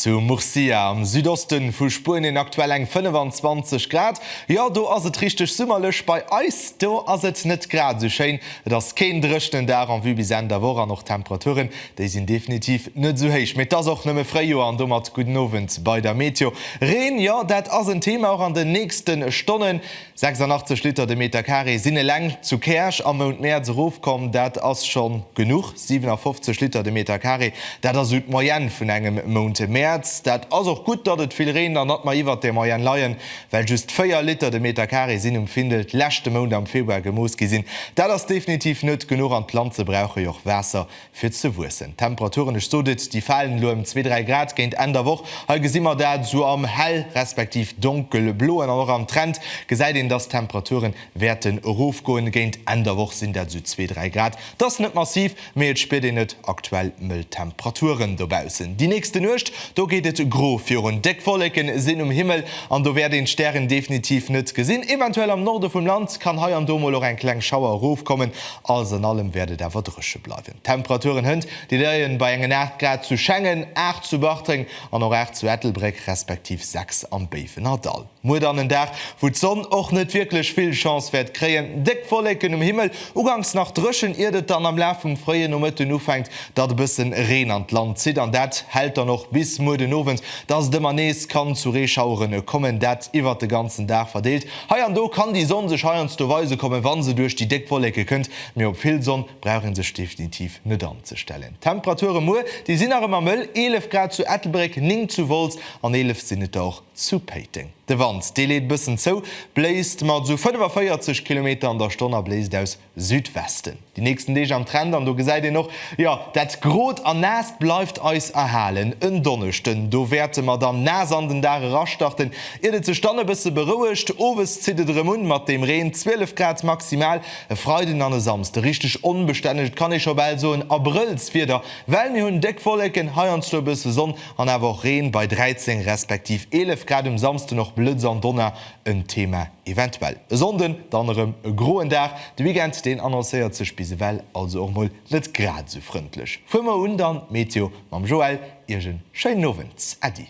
Zu Murcia am Südoste vu Spuenien aktuell eng 25 Grad. Jo, do ass et richteg summerlech. Bei eis do ass et net grad esou schéin. Et ass keen dréchenen Dag en vue bis Enn der Woch an och d'Temperature Déi sinn definitiv net esou héich. Mee 't ass och nëmme Fréijoer an domat gudden Owend bei der Meteo. Reen, jo dat ass en Thema och an den nächste Stonnen. 86 Liter de Meter Carré sinn eleng zu Käerch am Mount Mäerz erofkomm. Dat ass scho genuch. 57 Liter de Meter Carré, dat ass esou d'Moyenne vun engem Mount Mäerz. Dat ass och gutt, datt et vill reent an datt mer iwwert där Moyenne leien, well just 4 Liter de Meter Carré sinn um Findel d'leschte Mount am Februar gemooss gi sinn. Dat ass definitiv net genuch an d'Planze brauche jo och Waasser fir ze wuessen. D'Temperaturen, ech sot et, déi falen elo ëm zwee, dräi Grad géint Enn der Woch. Hei gesi mer dat esou am hell respektiv donkelbloen an och am Trend gesäit een, dass d'Temperature wäerten erofgoen. Géint Enn der Woch sinn dat esou zwee, dräi Grad. Et ass net massiv, mee et spiert een et, aktuell mëll Temperaturen dobaussen. Déi nächste Nuecht, do geet et gro virun. Déck Wolleke sinn um Himmel an do wäert een d'Stären definitiv net gesinn. Eventuell am Norde vum Land kann hei an do mol och eng kleng Schauer erofkommen. Alles an allem wäert et awer drëche bleiwen. D'Temperaturen hënt déi leien bei engen 8 Grad zu Schengen, 8 zu Bartreng an och 8 zu Ettelbréck respektiv 6 am Béiwenerdall. Muer dann en Dag wou d'Sonn och net wierklech vill Chance wäert kréien. Déck Wollécken um Himmel, uganks nach drëchen iert et dann am Laf vum fréien Nomëtten ufänkt datt e bëssen Reen an d'Land zitt an dat hält dann och bis muer den Owend, datt et ëmmer nees kann zu Reeschaueren kommen, dat iwwert de ganzen Dag verdeelt. Hei an do kann déi Sonn sech heiansdo weise kommen, wa se duerch déi déck Wolleke kënnt, mee op vill Sonn brauch ee sech definitiv net anzestellen. D'Temperature muer, déi sinn nach ëmmer mëll, 11 Grad zu Ettelbréck, 9 zu Wolz an 11 sinn et der och zu Péiteng. De Wand, dee leet e bëssen zou, bléist mat esou 45 Kilometer an der Stonn a bléist aus Südwesten déi nächsten Deeg am Trend an do gesäit een och, jo dat Grot an Naasst bleift eis erhalen. En Donneschden do wäerte mer dann naass an den Dag erastarten, iert et sech dann e bësse berouegt. Owes zitt et erëm un mat dem Reen, 12 Grad maximal. E Freiden an e Samsde richteg onbestänneg, et kann ee scho bal soen Abrëllswieder, well mir hunn déck Wolleken, heiansdo e bësse Sonn an awer och Reen bei 13 respektiv 11 Grad um Samsden. Och Blëtz an Donner en Thema eventuell. E Sonnden dann erëm e groen Dag, de Weekend deen annoncéiert sech bis ewell also och mol net grad esou frëndlech. Fuer mer un dann d'Meteo mam Joël, Iech en schéinen Owend, Äddi.